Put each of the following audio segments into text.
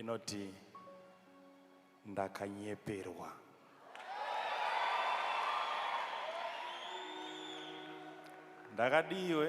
inoti ndakanyeperwa ndakadiiwe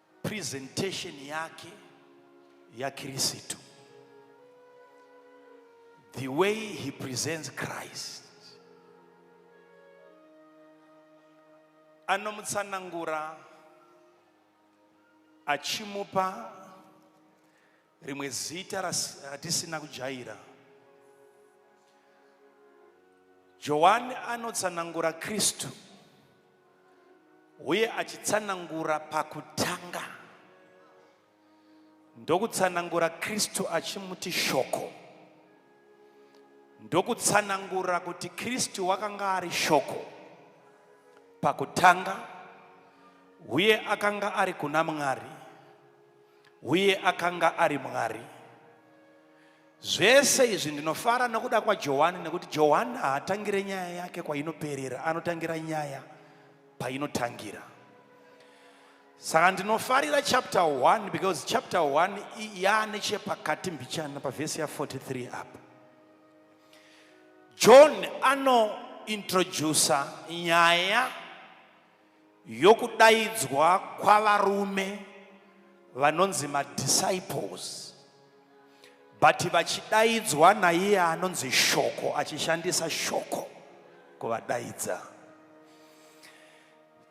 presentation yake yakirisitu the way he presents christ anomutsanangura achimupa Rimwe zita ratisina kujaira. Johani anotsanangura Kristu uye achitsanangura pakutanga ndokutsanangura Kristu achimuti shoko ndokutsanangura kuti Kristu wakanga ari shoko pakutanga uye akanga ari kuna Mwari Uye akanga ari Mwari. Zvese izvi ndinofara nokuda kwaJohani nekuti Johani haatangire nyaya yake kwainoperera, anotangira nyaya painotangira. Saka ndinofarira chapter 1 because chapter 1 yaane chepakati mbichana pavhesi ya43 apa. John anointroducer nyaya yokudaidzwa kwavarume vanonzi madisciples but vachidaidzwa naiye anonzi shoko achishandisa shoko kuvadaidza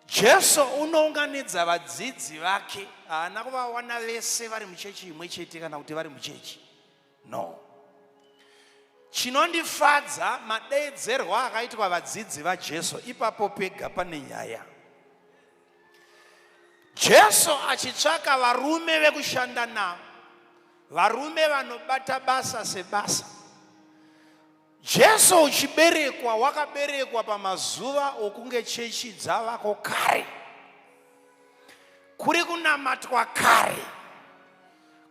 jesu unounganidza vadzidzi vake haana kuvawana vese vari muchechi imwe chete kana kuti vari muchechi No. Chinondifadza madeedzerwo akaitwa vadzidzi vaJesu ipapo pega pane nyaya. Jesu achitsvaka varume vekushanda navo, varume vanobata basa sebasa. Jesu uchiberekwa wakaberekwa pamazuva okunge chechi dzavako kare. Kuri kunamatwa kare.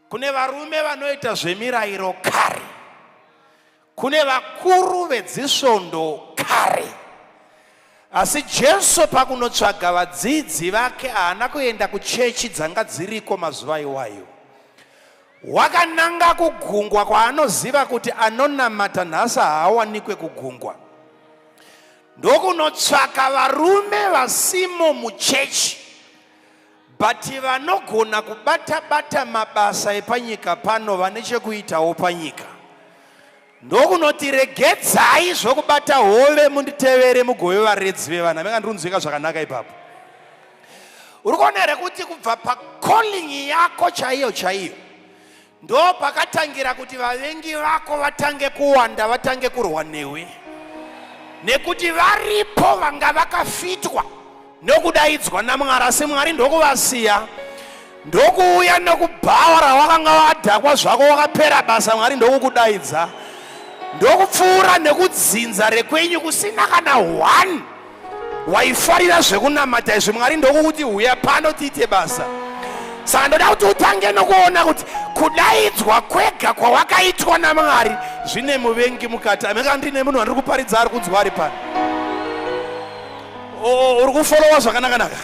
Kune varume vanoita zvemirayiro kare. Kune vakuru vedzisvondo kare. Asi Jesu pakunotsvaga vadzidzi vake haana kuenda kuchechi dzanga dziriko mazuva iwayo. Wakananga kugungwa kwaanoziva kuti anonamata nhasi haawanikwe kugungwa. Ndokunotsvaka varume vasimo muchechi but vanogona kubata bata mabasa epanyika pano vane chekuitawo panyika. Ndokunoti regedzai zvokubata hove munditevere mugove varedzi vevana. Venga ndirunzwika zvakanaka ipapo. Uri kuona here kuti kubva pacalling yako chaiyo chaiyo ndo pakatangira kuti vavengi vako vatange kuwanda vatange kurwa newe nekuti varipo vanga vakafitwa nokudaidzwa naMwari, asi Mwari ndokuvasiya ndokuuya nokubhawa rawakanga wadhakwa zvako wakapera basa mwari ndokukudaidza ndokupfuura nekudzinza rekwenyu kusina kana one waifarira zvekunamata izvi mwari ndokukuti huya pano tiite basa saka ndoda kuti utange nokuona kuti kudaidzwa kwega kwawakaitwa namwari zvine muvengi mukati ameka ndine munhu andiri kuparidza ari kunzwa ari pano uri kufolowa zvakanaka naka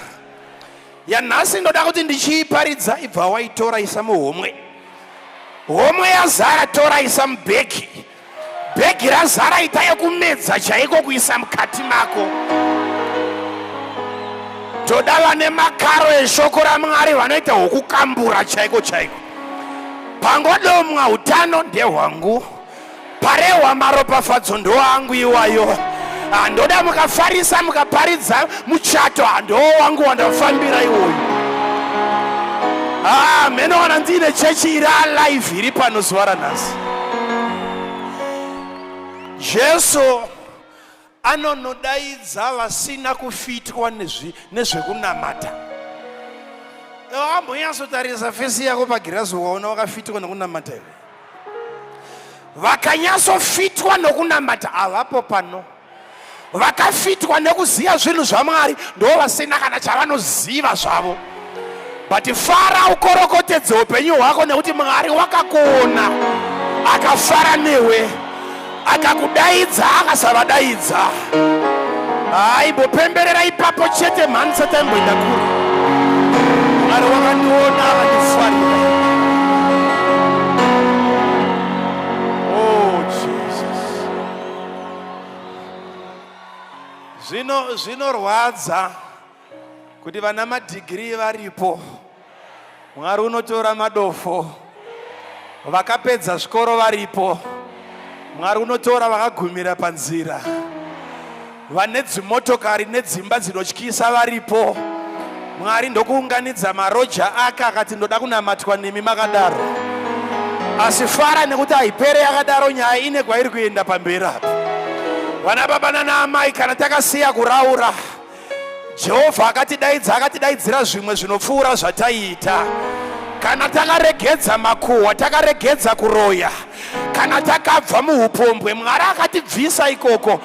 yanhasi ndoda kuti ndichiiparidza ibva waitora isa muhomwe homwe yazara tora isa mubhegi bhegi razara ita yekumedza chaiko kuisa mukati mako toda vane makaro eshoko ramwari vanoita hwokukambura chaiko chaiko pangodomwa utano ndehwangu parehwa maropafadzo ndoangu iwayo handoda ah, mukafarisa mukaparidza muchato handoo ah, wangu wandafambira iwoyu ah, mheno wana ndiine chechi iri alive iri pano zuva ranhasi jesu Anonodaidza vasina kufitwa nezvekunamata. Wambonyatsotarisa fesi yako pagirazi waona wakafitwa nokunamata here? Vakanyatsofitwa nokunamata havapo pano. Vakafitwa nekuziva zvinhu zvaMwari ndoo vasina kana chavanoziva zvavo. but fara ukorokotedze upenyu hwako nekuti mwari wakakuona akafara newe akakudaidza akasavadaidza haimbopemberera ipapo chete mhani sataimboenda kuri mwari wakandiona akandifarira oh, zvinorwadza kuti vana madhigirii varipo mwari unotora madofo vakapedza zvikoro varipo mwari unotora vakagumira panzira vane dzimotokari nedzimba dzinotyisa varipo mwari ndokuunganidza maroja ake akati ndoda kunamatwa nemi makadaro asi fara nekuti haipere yakadaro nyaya ine kwairi kuenda pamberi apa vana baba nana amai kana takasiya kuraura jehovha akatidaidza akatidaidzira zvimwe zvinopfuura zvataiita kana takaregedza makuhwa takaregedza kuroya kana takabva muupombwe mwari akatibvisa ikoko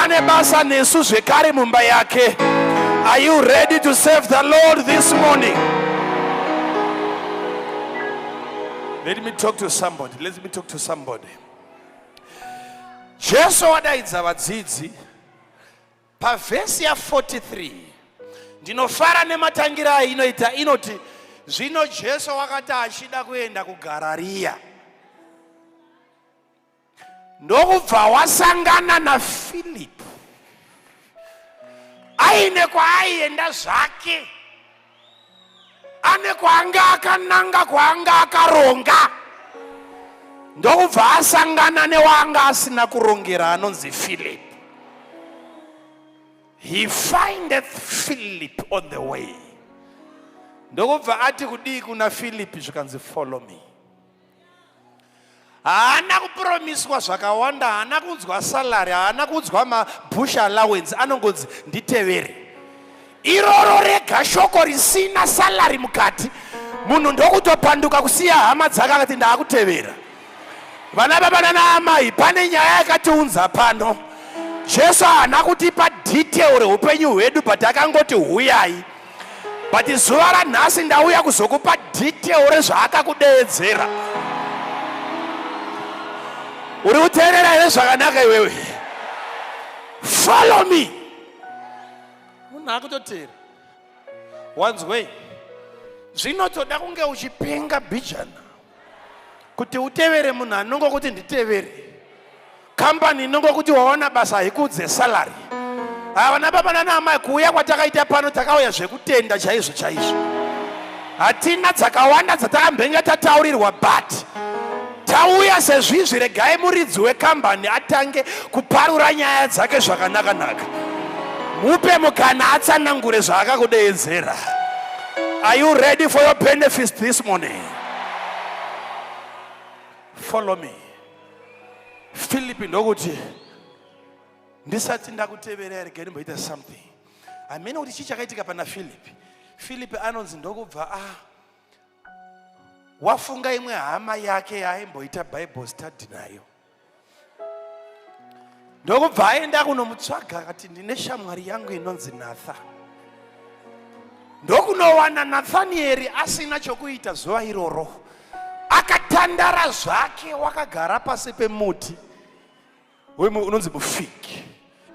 ane basa nesu zvekare mumba yake are you ready to serve the lord this morning let me talk to somebody let me talk to somebody jesu wadaidza vadzidzi Pavhesi ya 43 ndinofara nematangira ainoita inoti zvino Jesu wakati achida kuenda kuGarariya ndokubva wasangana naFilipi aine kwaaienda zvake ane kwaanga akananga kwaanga akaronga ndokubva asangana newaanga asina kurongera anonzi philip he findeth philip on the way ndokubva ati kudii kuna philip zvikanzi follow me haana kupromiswa zvakawanda haana kunzwa salary haana kunzwa mabush allowance anongonzi nditevere iroro rega shoko risina salary mukati munhu ndokutopanduka kusiya hama dzake akati ndaakutevera vana baba nana amai pane nyaya yakatiunza pano jesu haana kutipa detail reupenyu hwedu but akangoti huyai but zuva ranhasi ndauya kuzokupa detail rezvaakakudeedzera uri kuteerera here zvakanaka iwewe follow me munhu akutoteera wanzwei zvinotoda kunge uchipenga bijana kuti utevere munhu anongo kuti nditevere kambani inongo kuti wawana basa haikudze salary havana baba nana amai kuuya kwatakaita pano takauya zvekutenda chaizvo chaizvo hatina dzakawanda dzatakambenge tataurirwa but tauya sezvizvi regai muridzi wekambani atange kuparura nyaya dzake zvakanakanaka mupe mukana atsanangure zvaakakudeedzera are you ready for your benefits this morning follow me filipi ndokuti ndisati ndakuteverera rega ndimboita something hamene kuti chii chakaitika pana filipi filipi anonzi ndokubva a wafunga imwe hama yake yaaimboita bible study nayo ndokubva aenda kunomutsvaga akati ndine shamwari yangu inonzi natha ndokunowana nathanieri asina chokuita zuva iroro akatandara zvake wakagara pasi pemuti wemwe unonzi mufig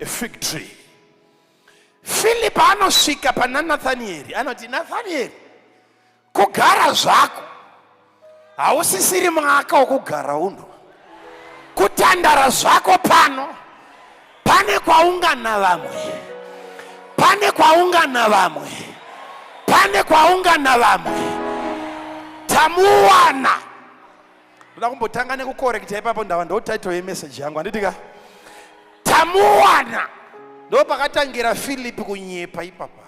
a fig tree philipi anosvika pana nathanieri anoti nathanieri kugara zvako hausisiri mwaka wokugara uno kutandara zvako pano pane kwaungana vamwe pane kwaungana vamwe pane kwaungana vamwe tamuwana ndoda kumbotanga nekukorekta ipapo ndava ndo title yemeseji yangu handiti ka tamuwana ndo pakatangira filipi kunyepa ipapa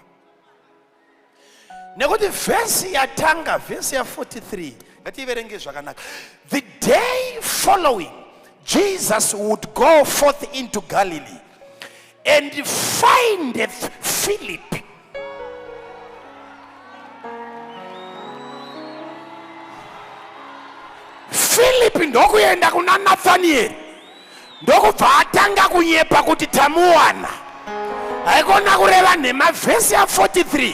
nekuti vhesi yatanga vhesi ya43 ngativerenge zvakanaka the day following jesus would go forth into galilee and findeth philip philip ndokuenda kuna nathanieri ndokubva atanga kunyepa kuti tamuwana haikona kureva nhema vhesi ya 43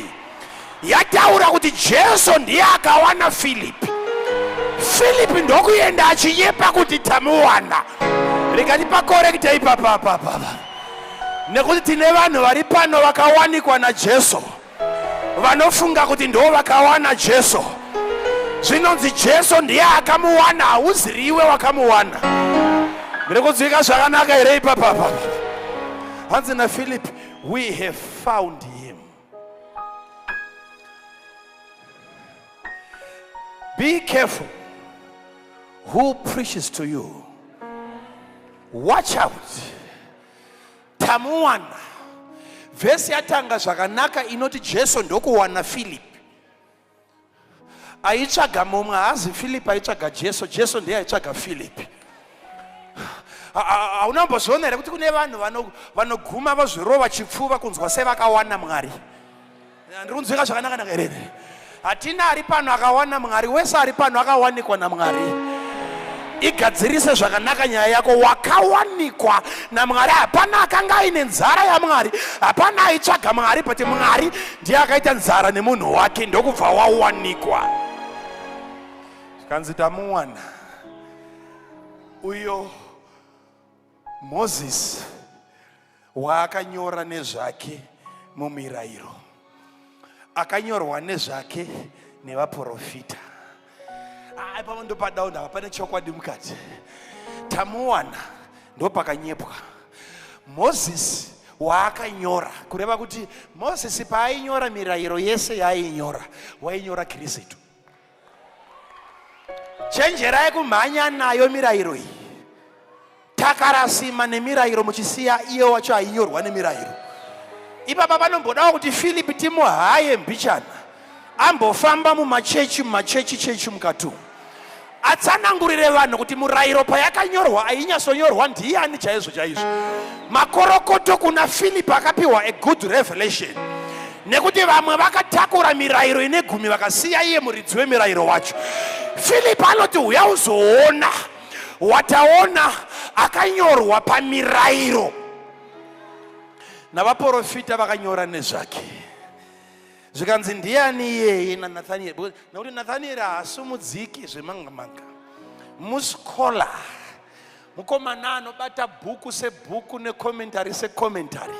yataura kuti jesu ndiye akawana filipi filipi ndokuenda achinyepa kuti tamuwana rikati pakorekita ipapapapapa nekuti tine vanhu vari pano vakawanikwa najesu vanofunga kuti ndo vakawana jesu zvinonzi jesu ndiye akamuwana hauziriwe wakamuwana ndiri kunzwika zvakanaka here ipapapa hanzi nafilip we have found him be careful who preaches to you watch out tamuwana vhesi yatanga zvakanaka inoti jesu ndokuwana philip aitsvaga mumwe haazi philip aitsvaga jesu jesu ndiye aitsvaga philip hauna mbozviona here kuti kune vanhu vanoguma vazvirova chipfuva kunzwa sevakawana mwari Ndiri kunzwika zvakanaka naka here? Hatina ari pano akawana Mwari, wese ari pano akawanikwa naMwari. Igadzirise zvakanaka nyaya yako, wakawanikwa naMwari. Hapana akanga aine nzara yaMwari, hapana aitsvaga Mwari, but Mwari ndiye akaita nzara nemunhu wake, ndokubva wawanikwa. Zvikanzi tamuwana uyo Mozisi waakanyora nezvake mumirayiro akanyorwa nezvake nevaprofita aipavo ah, ndopadawo ndava pane chokwadi mukati tamuwana ndopakanyepwa mozisi waakanyora kureva kuti mozisi paainyora mirayiro yese yaainyora wainyora kirisitu chenjerai kumhanya nayo mirayiro iyi takarasima nemirayiro muchisiya iye wacho ainyorwa nemirayiro ipapa panombodawo kuti philipi timuhaye mbichana ambofamba mumachechi mumachechi chechi mukati umu Atsanangurire vanhu kuti murayiro payakanyorwa ainyatsonyorwa ndiani chaizvo chaizvo. Makorokoto kuna Philip akapiwa a good revelation. Nekuti vamwe vakatakura mirayiro ine gumi vakasiya iye muridzi wemirayiro wacho. Philip anoti uya uzoona wataona akanyorwa pamirayiro navaporofita vakanyora nezvake. zvikanzi ndiyani iyeye nanathanieri nokuti nathanieri haasumudziki zvemangamanga muschola mukomana anobata bhuku sebhuku nekomentari sekomentari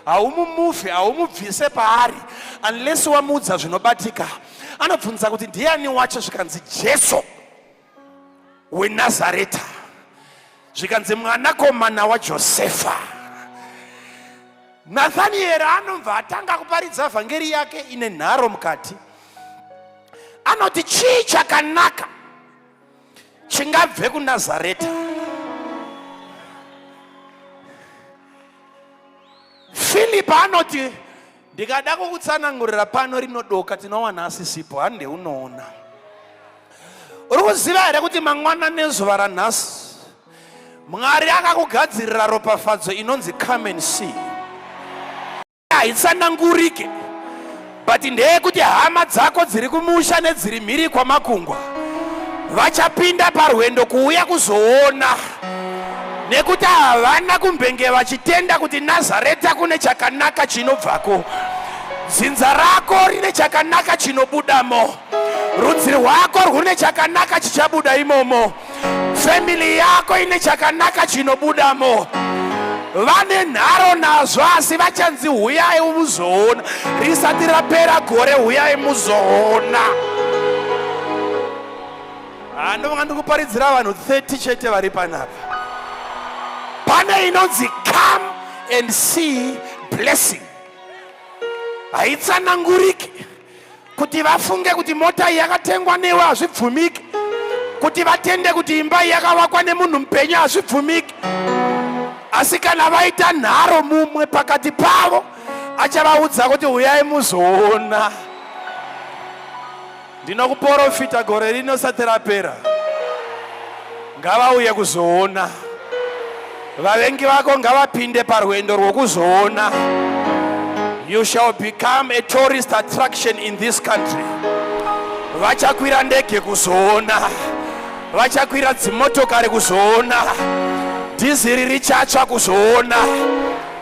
haumumufi haumubvise paari unless wamuudza zvinobatika anobvunza kuti ndiyani wacho zvikanzi jesu wenazareta zvikanzi mwanakomana wajosefa nathanieri anobva atanga kuparidza vhangeri yake ine nharo mukati anoti chii chakanaka chingabve kunazareta filipi anoti ndikada kukutsanangurira pano rinodoka tinowana asisipo hande unoona uri kuziva here kuti mangwana nezuva ranhasi mwari akakugadzirira ropafadzo inonzi come and see haitsanangurike but ndeyekuti hama dzako dziri kumusha nedziri mhiri kwamakungwa vachapinda parwendo kuuya kuzoona nekuti havana kumbenge vachitenda kuti nazareta kune chakanaka chinobvako dzinza rako rine chakanaka chinobudamo rudzi rwako rwune chakanaka chichabuda imomo famili yako ine chakanaka chinobudamo vane nharo nazvo asi vachanzi huyai muzoona risati rapera gore huyai muzoona Ah, ndovanga ndikuparidzira vanhu 30 chete vari panapa pane inonzi come and see blessing haitsananguriki kuti vafunge kuti mota iyi yakatengwa newe hazvibvumiki kuti vatende kuti imba iyi yakavakwa nemunhu mupenyu hazvibvumiki asi kana vaita nharo mumwe pakati pavo achavaudza kuti uyai muzoona Ndinokuporofita gore rino risati rapera, ngavauye kuzoona. Vavengi vako ngavapinde parwendo rwokuzoona. You shall become a tourist attraction in this country. Vachakwira ndege kuzoona, vachakwira dzimotokari kuzoona, dhiziri richatsva kuzoona.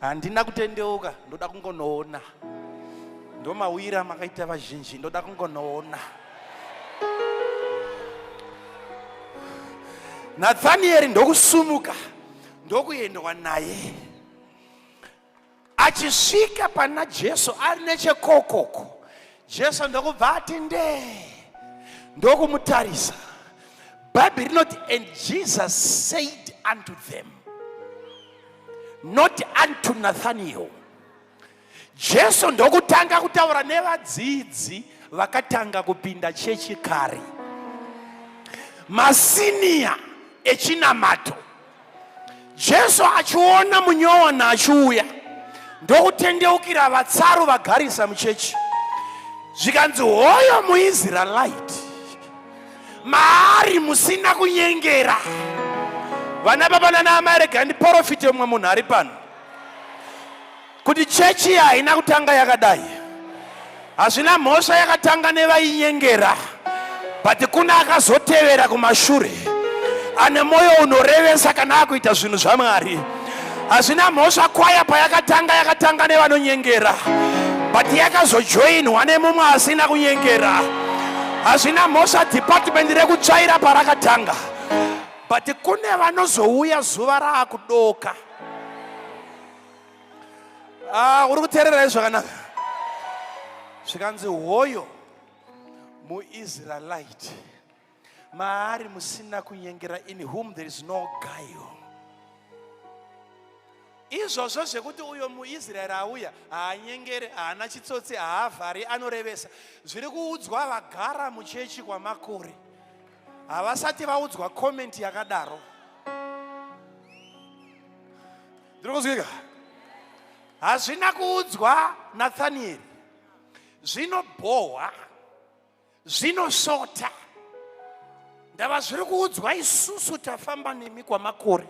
handina kutendeuka ndoda kungonoona ndomauyira amakaita vazhinji ndoda kungonoona nathanieri ndokusumuka ndokuendwa naye achisvika pana jesu ari nechekokoko jesu ndokubva ati ndee ndokumutarisa bhaibheri rinoti and jesus said unto them not unto nathaniel jesu ndokutanga kutaura nevadzidzi vakatanga kupinda chechi kare masiniya echinamato jesu achiona munyowana achiuya ndokutendeukira vatsaru vagarisa muchechi zvikanzi hoyo muisraelite maari musina kunyengera vana baba nana amai rega ndiporofite umwe munhu ari pano kuti chechi iya haina kutanga yakadai hazvina mhosva yakatanga nevainyengera but kune akazotevera kumashure ane mwoyo unorevesa kana akuita zvinhu zvamwari hazvina mhosva kwaya payakatanga yakatanga nevanonyengera but yakazojoinwa nemumwe asina kunyengera hazvina mhosva department rekutsvaira parakatanga but kune vanozouya zuva raakudoka ah, uri kuteerera izvakanaka zvikanzi hoyo muisraelite maari musina kunyengera in whom there is no guile izvozvo zvekuti uyo muisraeri auya haanyengere haana chitsotsi haavhari anorevesa zviri kuudzwa vagara muchechi kwamakore havasati vaudzwa komenti yakadaro ndiri kuzwika hazvina kuudzwa nathanieri zvinobhohwa zvinosvota ndava zviri kuudzwa isusu tafamba nemi kwamakore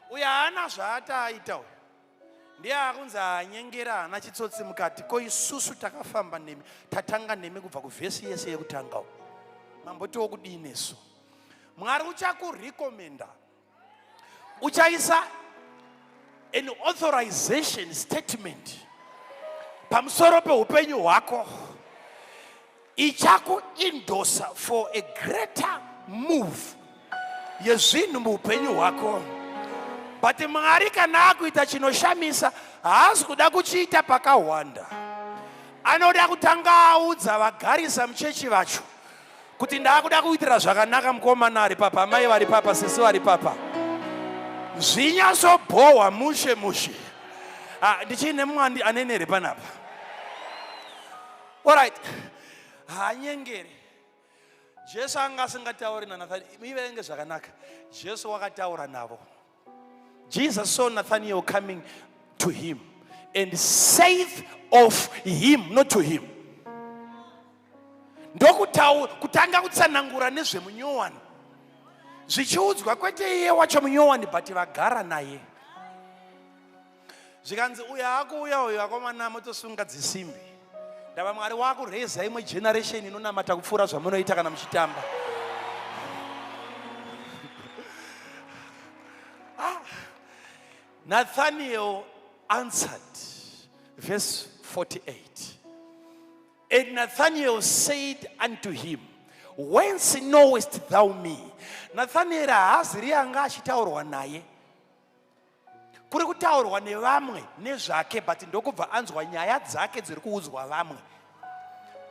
uyo haana zvaataaita uyo ndiye akunzi anyengera haana chitsotsi mukati ko isusu takafamba nemi tatanga nemi kubva kuvhesi yese yekutanga u mambotiwo kudii nesu mwari uchakurekomenda uchaisa an authorization statement pamusoro peupenyu hwako ichakuindosa for a greater move yezvinhu muupenyu hwako but mwari kana akuita chinoshamisa haazi kuda kuchiita pakahwanda anoda kutanga audza vagarisa muchechi vacho kuti ndaakuda kuitira zvakanaka mukomana ari papa amai vari papa sisi vari papa zvinyatsobhohwa mushe mushe ah, ndichiine mumwe anenere panapa orit haanyengeri jesu anga asingatauri nanathani ivenge zvakanaka jesu wakataura navo Jesus saw Nathaniel coming to him and saith of him, not to him. ndokutanga kutsanangura nezvemunyowani zvichiudzwa kwete iye wacho munyowani but vagara naye zvikanzi uyo akuuya uyo akomana motosunga dzisimbi ndava mwari wakureza imwe generation inonamata kupfuura zvamunoita kana muchitamba ah. nathaniel answered verse 48 and nathaniel said unto him whence knowest thou me nathanieri haazi riye anga achitaurwa naye kuri kutaurwa nevamwe nezvake but ndokubva anzwa nyaya dzake dziri kuudzwa vamwe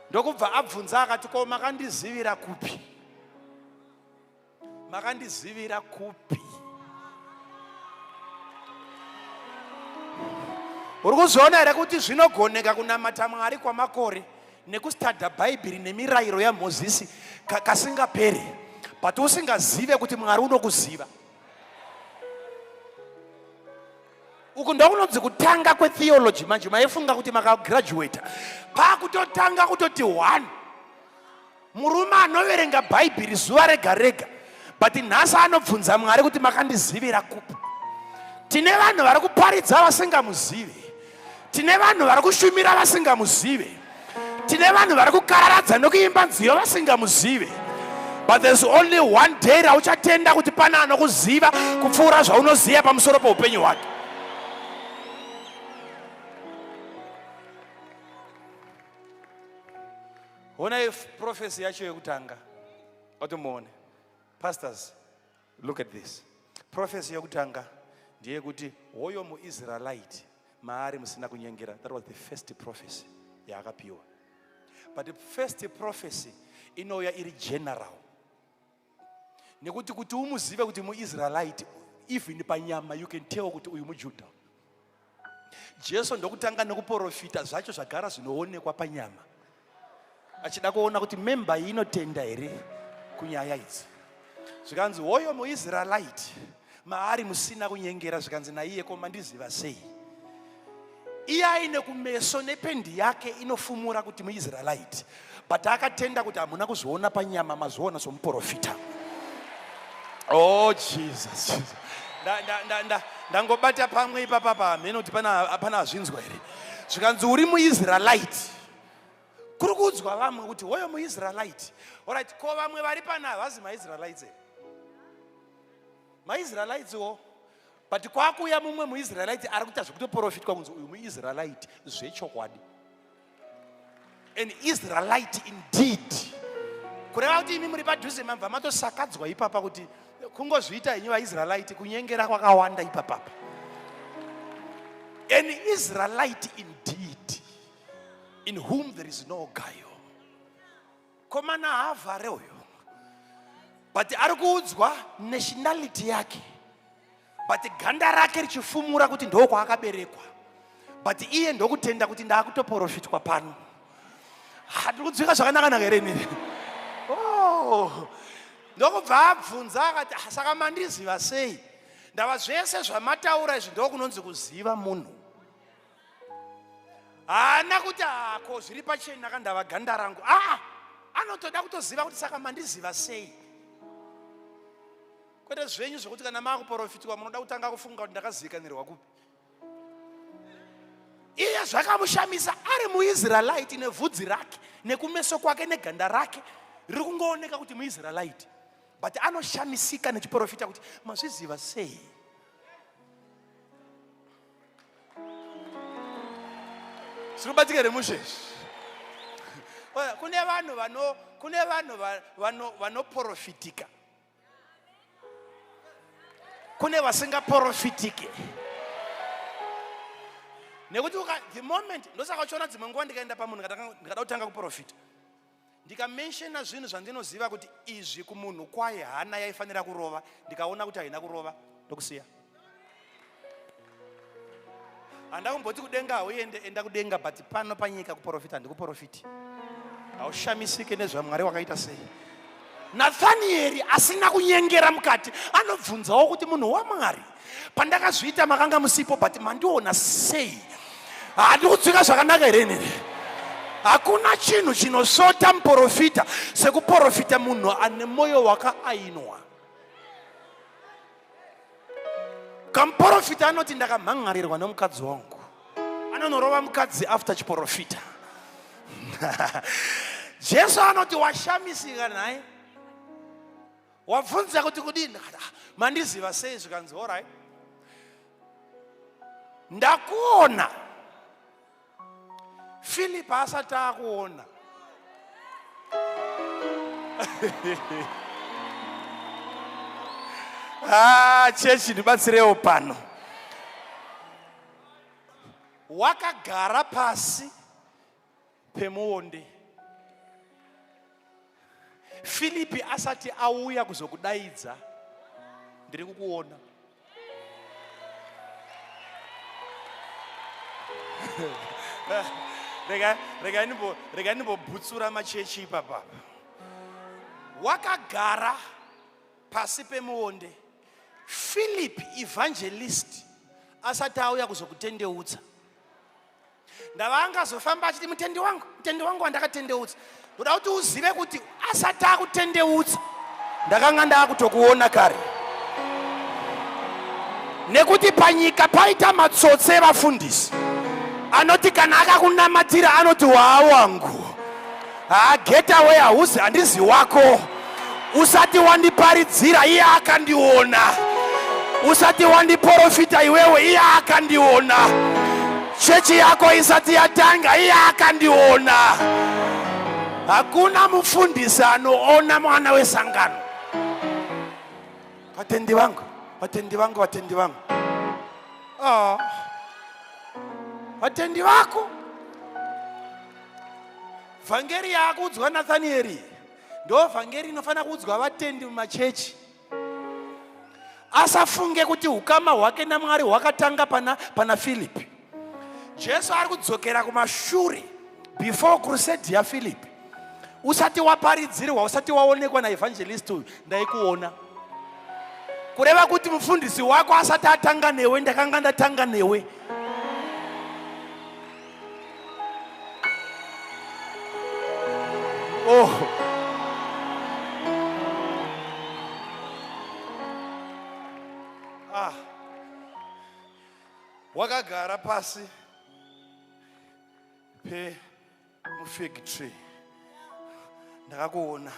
ndokubva abvunza akati ko makandizivira kupi makandizivira kupi uri kuzviona here kuti zvinogoneka kunamata mwari kwamakore nekustada bhaibheri nemirayiro yamozisi kasingaperi but usingazive kuti mwari unokuziva uku ndokunonzi kutanga kwetheology manje maifunga kuti makagraduata pakutotanga kutoti one murume anoverenga bhaibheri zuva rega rega but nhasi anobvunza mwari kuti makandizivira kupi tine vanhu vari kuparidza vasingamuzivi Tine vanhu vari kushumira vasingamuzive. Tine vanhu vari kukararadza nokuimba nziyo vasingamuzive. But there's only one day rauchatenda kuti pane anokuziva kupfuura zvaunoziva pamusoro poupenyu hwake. Honai prophecy yacho yekutanga. Otomuone. Pastors. Look at this. Prophecy yokutanga ndeyekuti hoyo muIsraelite maari musina kunyengera. That was the first prophecy yaakapiwa. But the first prophecy inouya iri general. Nekuti kuti umuzive kuti muIsraelite even panyama you can tell kuti uyu muJuda. jesu ndokutanga nekuporofita zvacho zvagara zvinoonekwa panyama achida kuona kuti memba iyi inotenda here kunyaya idzi zvikanzi hoyo muisraelite maari musina kunyengera zvikanzi naiye ko mandiziva sei iye aine kumeso nependi yake inofumura kuti muisraelite but akatenda kuti hamuna kuzviona panyama mazviona somuprofita oh jesus ndangobata pamwe ipapa pahamhene kuti pana hazvinzwa here zvikanzi uri muisraelite kuri kuudzwa vamwe kuti hoyo muisraelite orit ko vamwe vari pana havazi maisraelites here maisraelites wo but kwakuuya mumwe muisraelite ari kuita zvekutoprofitwa kunzi uyu muisraelite zvechokwadi an israelite indeed kureva kuti imi muri padhuze mabva matosakadzwa ipapa kuti kungozviita henyu vaisraelite kunyengera kwakawanda ipapapa an israelite indeed in whom there is no guile komana haavhare uyo but ari kuudzwa nationality yake but ganda rake richifumura kuti ndo kwaakaberekwa but iye ndokutenda kuti ndaakutoporofitwa pano hatiri kudzwika zvakanakanaka here inini oh. ndokubva abvunza akati ah, saka mandiziva sei ndava zvese zvamataura izvi ndokunonzi kuziva munhu haana kuti hako ah, zviri pacheni akandava ganda rangu aa ah, anotoda kutoziva kuti saka mandiziva sei kwete zvenyu zvekuti kana maakuporofitwa munoda kutanga kufunga kuti ndakazivikanirwa kupi iye zvakamushamisa ari muisraelite nevhudzi rake nekumeso kwake neganda rake riri kungooneka kuti muisraelite but anoshamisika nechiporofita kuti mazviziva sei zvinobatika here musheshi kune vanhu vano kune vanhu vanoporofitika kune vasingaporofitike nekuti the moment ndosaka uchiona dzimwe nguva ndikaenda pamunhu ndikada kutanga kuprofita ndikamenshena zvinhu zvandinoziva kuti izvi kumunhu kwaye hana yaifanira kurova ndikaona kuti haina kurova ndokusiya handa kumboti kudenga hauende enda kudenga but pano panyika kuporofita handikuporofiti haushamisike nezvamwari wakaita sei Nathanieri asina kunyengera mukati anobvunzawo kuti munhu waMwari pandakazviita makanga musipo but mandiona sei handi kutsvika zvakanaka here nini hakuna chinhu chinosvota muporofita sekuporofita munhu ane mwoyo wakaainwa kamuporofita anoti ndakamhan'arirwa nemukadzi wangu anonorova mukadzi after chiporofita jesu anoti washamisika nhai wabvunza kuti kudini ah, mandiziva sei zvikanzi orai ndakuona philip haasati akuona ah, chechi ndibatsirewo pano wakagara pasi pemuonde filipi asati auya kuzokudaidza ndiri kukuona regai ndimbobutsura machechi ipapa wakagara pasi pemuonde philip evangelist asati auya kuzokutendeutsa ndava angazofamba achiti mutendi wangu mutendi wangu wandakatendeutsa ndoda kuti uzive kuti asati akutendeutsa ndakanga ndaakutokuona kare nekuti panyika paita matsotsi evafundisi anoti kana akakunamatira anoti waawangu haa get away hauzi handizi wako usati wandiparidzira iye akandiona usati wandiporofita iwewe iye akandiona chechi yako isati yatanga iye akandiona hakuna mufundisi anoona mwana wesangano vatendi vangu vatendi vangu vatendi vangu ah. vatendi vako vhangeri yaakuudzwa nathanieri ndo vhangeri inofanira kuudzwa vatendi mumachechi asafunge kuti ukama hwake namwari hwakatanga pana, pana filipi jesu ari kudzokera kumashure before crusade yafilipi usati waparidzirwa usati waonekwa naevhangelisti uyu ndaikuona kureva kuti mufundisi wako asati atanga newe ndakanga ndatanga newe Oh. Ah. Wakagara pasi pe mufig tree ndakakuona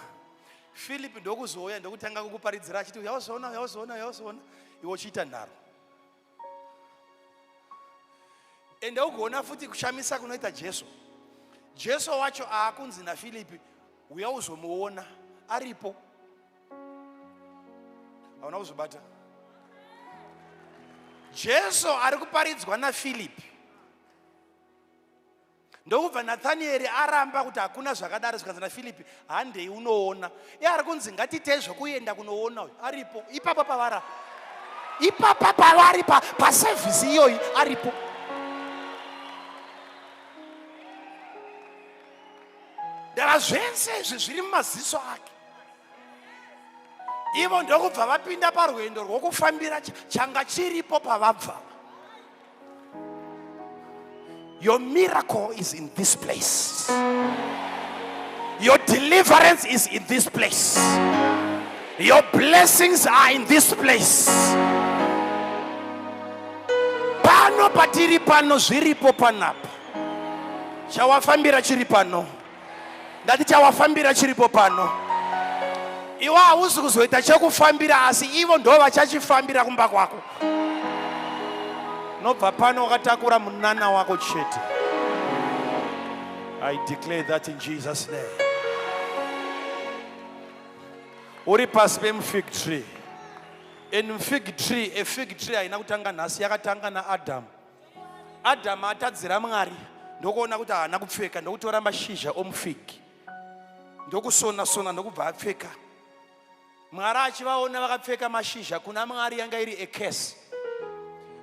philip ndokuzouya ndokutanga kukuparidzira achiti yauzoona yauzoona yauzoona iwe uchiita nharo ende ugoona futi kushamisa kunoita jesu jesu wacho aakunzi nafilipi uya uzomuona aripo hauna kuzobata jesu ari kuparidzwa nafilipi ndokubva nathanieri aramba kuti hakuna zvakadaro zvikanzi nafilipi handei unoona iye ari kunzi ngatiitei zvokuenda kunoona uyu aripo ipapa pavara ipapa pavari pasevhisi iyoyi aripo ndava zvese izvi zviri mumaziso ake ivo ndokubva vapinda parwendo rwokufambira changa chiripo pavabva Your miracle is in this place. Your deliverance is in this place. Your blessings are in this place. Pano patiri pano zviripo panapa. Chawafambira chiri pano. ndati chawafambira chiripo pano iwe hausi kuzoita chekufambira asi ivo ndo vachachifambira kumba kwako nobva pano wakatakura munana wako chete i declare that in jesus name uri pasi pemufig tree and mufig tree efig tree haina kutanga nhasi yakatanga naadamu adhamu atadzira mwari ndokuona kuti haana kupfeka ndokutora mashizha omufigi ndokusona sona ndokubva apfeka mwari achivaona vakapfeka mashizha kuna mwari yanga iri ekesi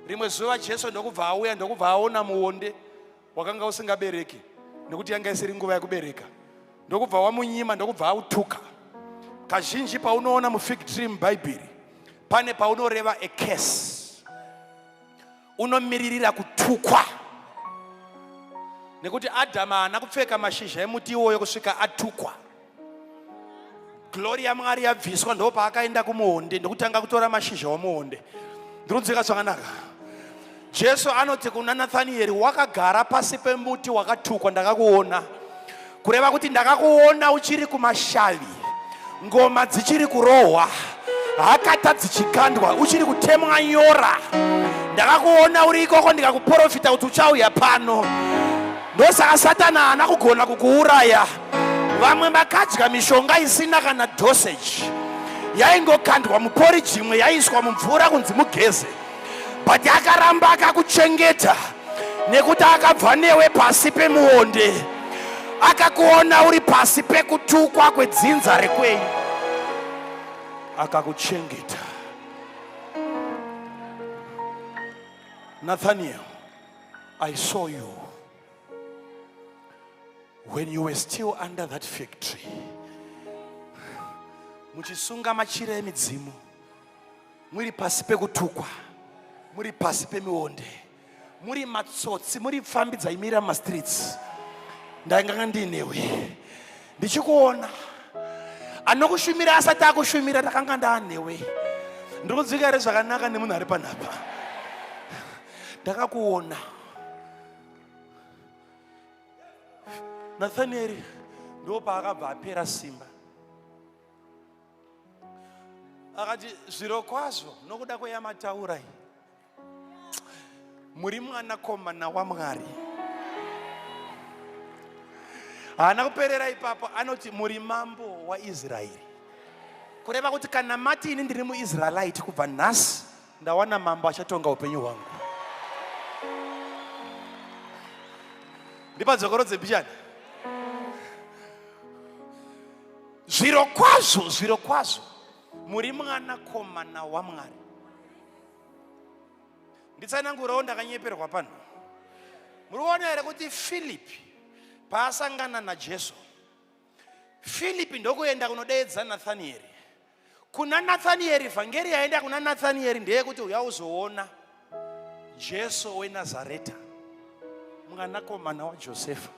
rimwe zuva jesu ndokubva auya ndokubva aona muonde wakanga usingabereki nekuti yanga isiri nguva yekubereka ndokubva wamunyima ndokubva autuka kazhinji paunoona mufig tree mubhaibheri pane paunoreva ekesi unomiririra kutukwa nekuti adhamu haana kupfeka mashizha emuti iwoyo kusvika atukwa glori yamwari yabviswa ndo paakaenda kumuonde ndokutanga kutora mashizha omuonde ndikunzwika zvakanaka jesu anoti kuna nathanieri wakagara pasi pemuti wakatukwa ndakakuona kureva kuti ndakakuona uchiri kumashavi ngoma dzichiri kurohwa hakata dzichikandwa uchiri kutemwa nyora ndakakuona uri ikoko ndikakuprofita kuti uchauya pano ndosaka satani haana kugona kukuuraya vamwe makadya mishonga isina kana dosage yaingokandwa muporiji imwe yaiswa mumvura kunzi mugeze but akaramba akakuchengeta nekuti akabva newe pasi pemuonde akakuona uri pasi pekutukwa kwedzinza rekwenyu akakuchengeta nathaniel i saw you when you were still under that factory muchisunga machira emidzimu muri pasi pekutukwa muri pasi pemionde muri matsotsi muri pfambi dzaimira mumastreets ndainganga ndiinewe ndichikuona anokushumira asati akushumira ndakanga ndaanewe ndiri kudzika here zvakanaka nemunhu ari panapa ndakakuona nathanieri ndo paakabva apera simba akati zviro kwazvo nokuda kweyamataura iyi muri mwanakomana wamwari haana kuperera ipapo anoti muri mambo waisraeri kureva kuti kana mati ini ndiri muisraelite kubva nhasi ndawana mambo achatonga upenyu hwangu ndipadzokoro dzebishani zviro kwazvo zviro kwazvo muri mwana komana wamwari nditsanangurawo ndakanyeperwa pano muri kuona here kuti filipi paasangana najesu filipi ndokuenda kunodeedza nathanieri kuna nathanieri vhangeri yaenda kuna nathanieri ndeyekuti uya uzoona jesu wenazareta mwanakomana wajosefa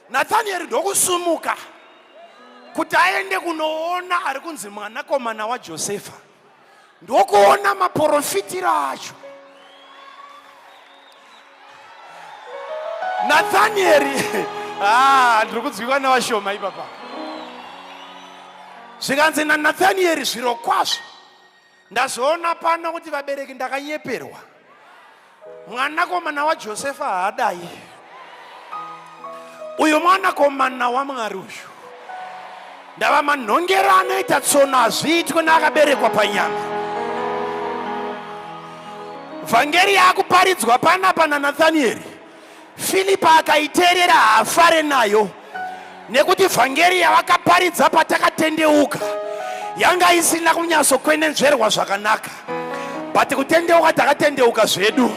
nathanieri ndokusumuka kuti aende kunoona ari kunzi mwanakomana wajosefa ndokuona maporofitiro acho nathanieri ah, ndiri kunzwikwa nevashoma ipapa zvikanzi nanathanieri zvirokwazvo Ndazoona pano kuti vabereki ndakanyeperwa. Mwanakomana waJosefa haadai. Uyu mwanakomana waMwari uyu. Ndava manhongera anoita tsono hazviitwe neakaberekwa panyama. Vhangeri yaakuparidzwa panapa naNathanieri. Filipi akaiteerera haafare nayo nekuti vhangeri yavakaparidza patakatendeuka yanga isina kunyatsokwenenzverwa zvakanaka but kutendeuka takatendeuka zvedu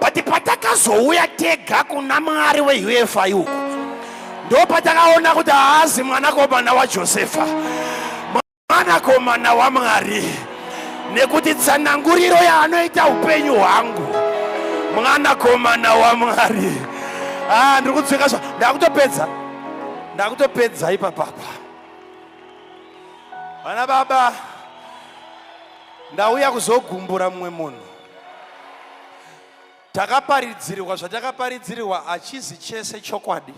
but patakazouya tega kuna mwari weufai uku ndo patakaona kuti haazi mwanakomana wajosefa mwanakomana wamwari nekuti tsananguriro yaanoita upenyu hwangu mwanakomana wamwari ah, ndiri kutsvika zva ndakutopedza ndakutopedza ipapapa vana baba ndauya kuzogumbura mumwe munhu takaparidzirwa zvatakaparidzirwa hachizi chese chokwadi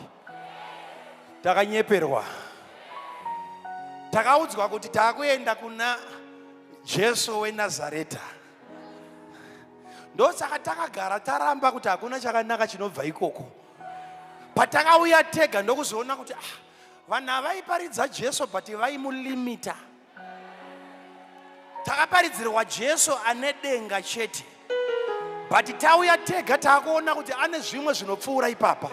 takanyeperwa takaudzwa kuti takuenda kuna jesu wenazareta ndosaka takagara taramba kuti hakuna chakanaka chinobva ikoko patakauya tega ndokuzoona kuti ah, vanhu avaiparidza jesu but vaimulimita takaparidzirwa jesu ane denga chete but tauya tega taakuona kuti ane zvimwe zvinopfuura ipapa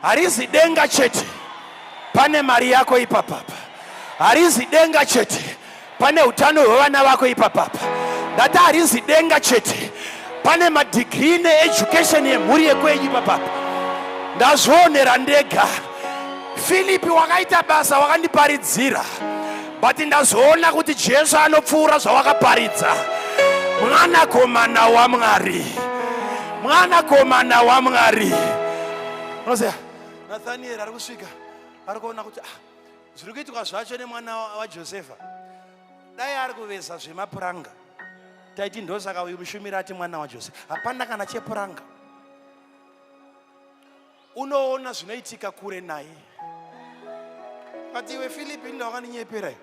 harizi denga chete pane mari yako ipapapa harizi denga chete Pane utano hwevana vako ipapapa. Ndati harinzi denga chete. Pane madegree needucation yemhuri yekwenyu ipapapa. Ndazvionera ndega. Filipi wakaita basa wakandiparidzira. But ndazoona kuti Jesu anopfuura zvawakaparidza. Mwanakomana waMwari. Mwanakomana waMwari. Unoziva? Nathaniel ari kusvika. Ari kuona kuti ah zviri kuitwa zvacho nemwana wajosefa dai ari kuveza zvemapuranga taiti ndosaka uyu mushumiri ati mwana wajosefa hapana kana chepuranga unoona zvinoitika kure naye but iwe filipi inda wakandinyepera iyo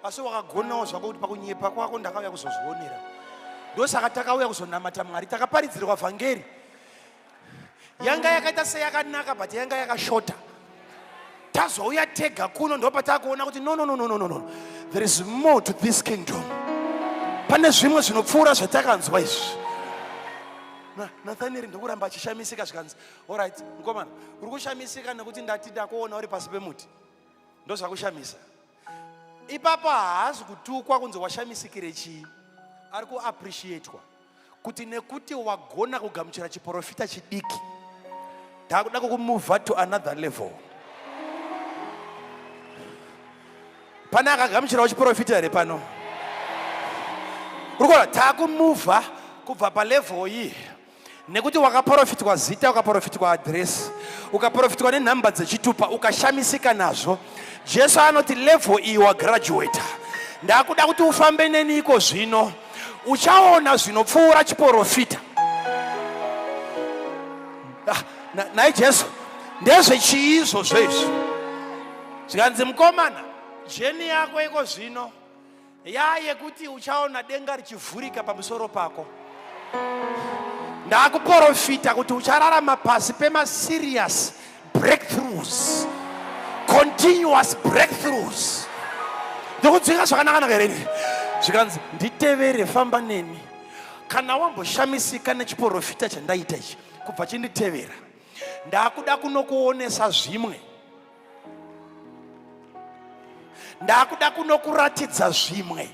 asi wakagonawo zvako kuti pakunyepa kwako ndakauya kuzozvionera ndosaka takauya kuzonamata mwari takaparidzirwa vhangeri yanga yakaita seyakanaka but yanga yakashota tazouya tega kuno ndo patakuona kuti no no no no no no there is more to this kingdom pane zvimwe zvinopfuura zvatakanzwa izvi nathanieri ndokuramba achishamisika zvikanzi orit mukomana uri kushamisika nekuti ndati ndakuona uri pasi pemuti ndozvakushamisa ipapo haasi kutukwa kunzi washamisikire chii ari kuappreciatwa kuti nekuti wagona kugamuchira chiporofita chidiki ndakuda kukumuvha to another level pane akagamuchirawo chiporofita here pano uri kuona takumuvha kubva palevel iyi nekuti wakaporofitwa zita ukaporofitwa adhiresi ukaporofitwa nenhamba dzechitupa ukashamisika nazvo jesu anoti level iyi wagraduata ndakuda kuti ufambe neni iko zvino uchaona zvinopfuura chiporofita ah, nhai jesu ndezvechii izvozvo izvi zvikanzi mukomana jeni yako iko zvino yaa yekuti uchaona denga richivhurika pamusoro pako ndakuporofita kuti uchararama pasi pemasiriyasi breakthroughs continuous breakthroughs ndikudzika zvakanakanaka here ini zvikanzi nditevere famba neni kana wamboshamisika nechiporofita chandaita ichi kubva chinditevera ndakuda kunokuonesa zvimwe ndakuda kunokuratidza zvimwe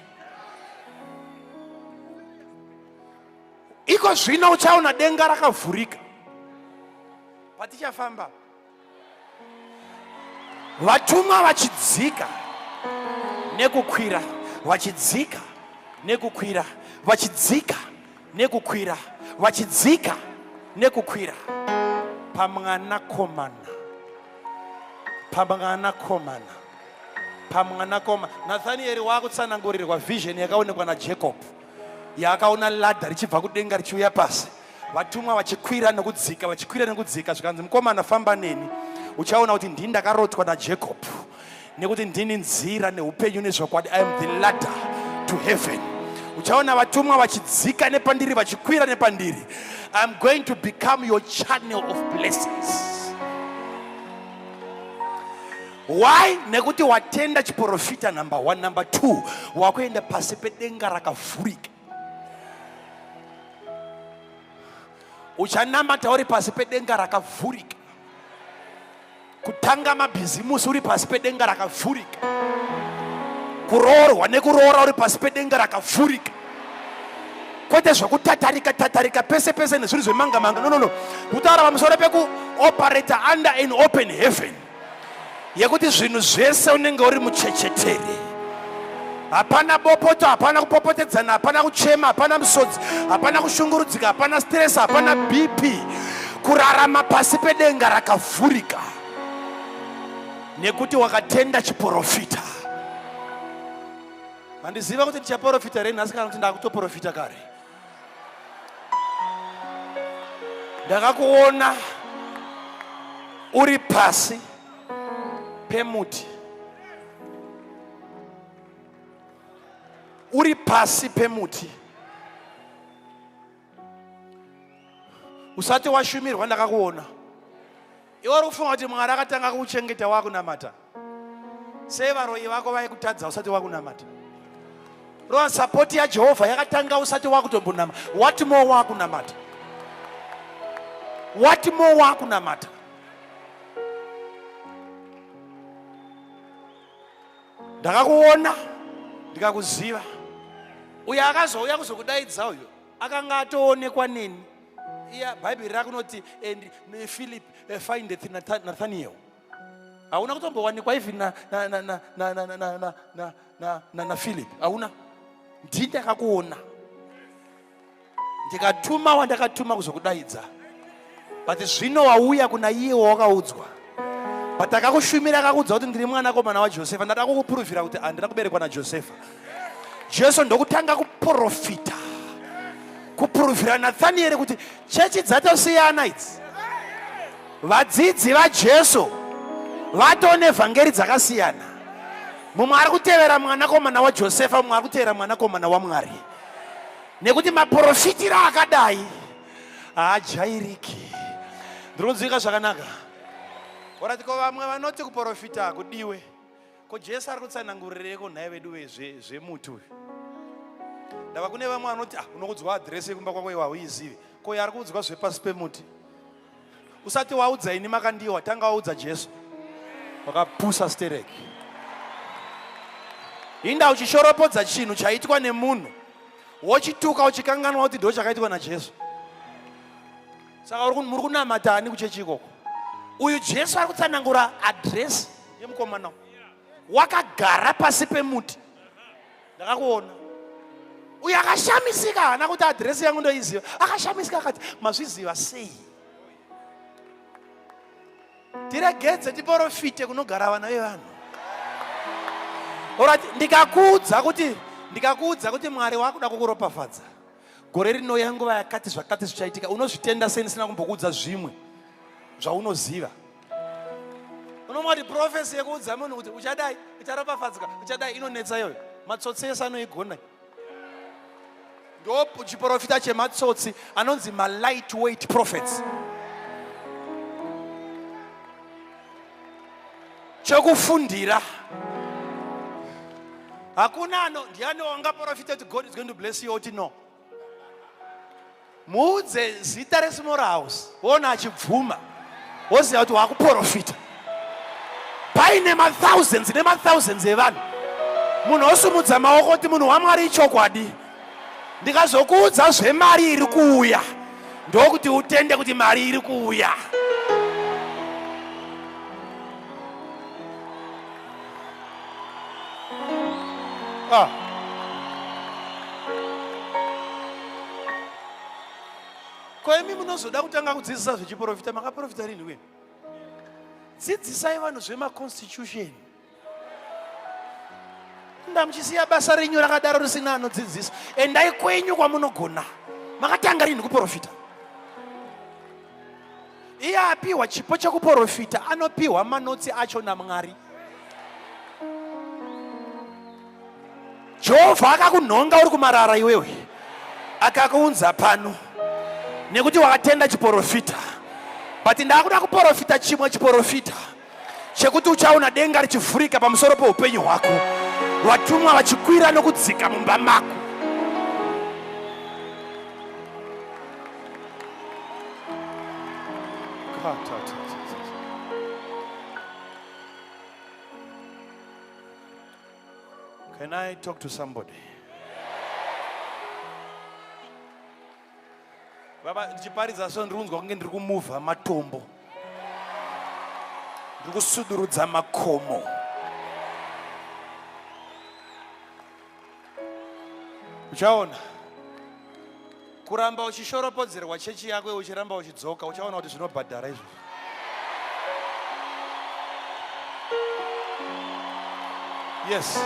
iko zvino uchaona denga rakavhurika Patichafamba vatumwa vachidzika nekukwira vachidzika nekukwira vachidzika nekukwira vachidzika nekukwira pamwanakomana pamwanakomana pamwanakomana nathanieri waakutsanangurirwa vision yakaonekwa najacob yaakaona ladha richibva kudenga richiuya pasi vatumwa vachikwira nekudzika vachikwira nekudzika zvikanzi mukomana famba neni uchaona kuti ndini ndakarotwa najacob nekuti ndini nzira neupenyu nezvokwadi i am the ladder to heaven uchaona vatumwa vachidzika nepandiri vachikwira nepandiri i am going to become your channel of blessings why nekuti watenda chiporofita number one number two wakuenda pasi pedenga rakavhurika uchanamata uri pasi pedenga rakavhurika kutanga mabhizimusi uri pasi pedenga rakavhurika kuroorwa nekuroora uri pasi pedenga rakavhurika kwete zvekutatarika tatarika pese pese nezvinhu zvemanga manga no no no kutaura pamusoro pekuoperata under an open heaven yekuti zvinhu zvese unenge uri muchechetere hapana bopoto hapana kupopotedzana hapana kuchema hapana musodzi hapana kushungurudzika hapana stress hapana bp kurarama pasi pedenga rakavhurika nekuti wakatenda chiporofita handiziva kuti ndichaporofita rei nhasi kana kuti ndakutoporofita kare ndakakuona uri pasi pemuti uri pasi pemuti usati washumirwa ndakakuona Iwe uri kufunga kuti Mwari akatanga kukuchengeta wakunamata? Sei varoyi vako vaikutadza usati wakunamata? Rova sapoti yaJehovha yakatanga usati wakutombonama. What more wakunamata? What more wakunamata? Ndakakuona ndikakuziva. Uyo akazouya kuzokudaidza uyo akanga atoonekwa neni. iya bhaibheri rakunoti and eh, philip eh, find nathaniel hauna kutombowanikwa even naphilip hauna ndii ndakakuona ndikatuma wandakatuma kuzokudaidza but zvino wauya kuna iye wawakaudzwa but akakushumira akakuudza kuti ndiri mwanakomana wajosefa ndada kukupuruvhira kuti handina kuberekwa najosefa jesu ndokutanga kuprofita kupuruvhira nathanieri kuti chechi dzatosiyana idzi vadzidzi vajesu vatoone vhangeri dzakasiyana mumwe ari kutevera mwanakomana wajosefa mumwe ari kutevera mwanakomana wamwari nekuti maprofitiro akadai haajairiki ndiri kunzwika zvakanaka oratiko vamwe vanoti kuprofita kudiwe ko jesu ari kutsanangurireko nhai vedu vezve zvemuti uyu ndava kune vamwe vanoti ah, unokudzwa adhiresi yekumba kwako iwa uizivi ko yaari kuudzwa zvepasi pemuti usati waudza ini makandiwa tanga waudza jesu wakapusa stereki inda uchishoropodza chinhu chaitwa nemunhu wochituka uchikanganwa kuti ndo chakaitwa najesu saka muri kunamata ani kuchechi ikoko uyu jesu ari kutsanangura adresi yemukomana wakagara pasi pemuti ndakakuona uyu akashamisika haana kuti adresi yangu ndoiziva akashamisika akati mazviziva sei tiregedze tiporofite kunogara vana vevanhu ndikakuudza kuti ndikakuudza kuti mwari wakuda kukuropafadza gore rinouya nguva yakati zvakati zvichaitika unozvitenda sei ndisina kumbokuudza zvimwe zvaunoziva unomwa kuti profesi yekuudza munhu kuti uchadai ucharopafadzika uchadai inonetsa iyoyo matsotsi ese anoigona ndo chiprofita chematsotsi anonzi malight weight prophets chokufundira hakuna ano ndiani wangaprofita kuti god is going to bless you oti no muudze zita resmall house woona achibvuma woziva kuti waakuprofita paine mathousands nemathousands evanhu munhu osumudza maoko kuti munhu wamwari ichokwadi ndikazokuudza zvemari iri kuuya ndokuti utende kuti mari iri kuuya ah. ko imi munozoda kutanga kudzidzisa zvechiprofita makaprofita rini wena dzidzisai vanhu zvemaconstitution kufunda muchisiya basa renyu rakadaro risina anodzidzisa endai kwenyu kwamunogona makatanga rinhi kuprofita iye apiwa chipo chekuprofita anopiwa manotsi acho namwari jehovha akakunhonga uri kumarara iwewe akakuunza pano nekuti wakatenda chiprofita but ndaakuda kuprofita chimwe chiprofita chekuti uchaona denga richivhurika pamusoro peupenyu hwako vatumwa vachikwira nokudzika mumba mako Can I talk to somebody? Baba ndichiparidza so ndiri kunzwa kunge ndiri kumuvha matombo. Ndiri kusudurudza makomo. Uchaona. Kuramba uchishoropodzerwa chechi yako uchiramba uchidzoka uchaona kuti zvinobhadhara izvozvo. Yes.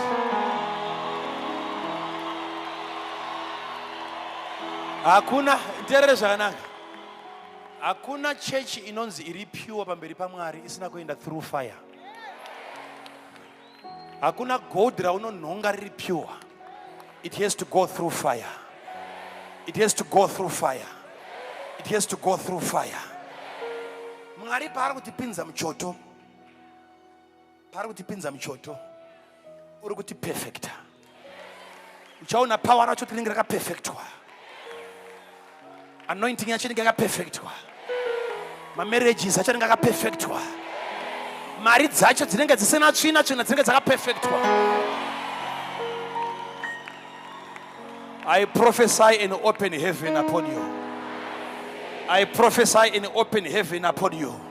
Hakuna nderere zvakanaka. Hakuna church inonzi iri pure pamberi paMwari isina kuenda through fire. hakuna gold raunonhonga riri pure it has to go through fire it has to go through fire it has to go through fire mwari paari kutipinza muchoto paari kutipinza muchoto uri kuti perfecta uchaona power racho tinenge rakapefectwa anointing yacho inenge yakapefectwa mamarriages acho anenge akapefectwa mari dzacho dzinenge dzisina tsvina tsvina dzinenge dzakapefectwa i prophesy in open heaven upon you i prophesy in open heaven upon you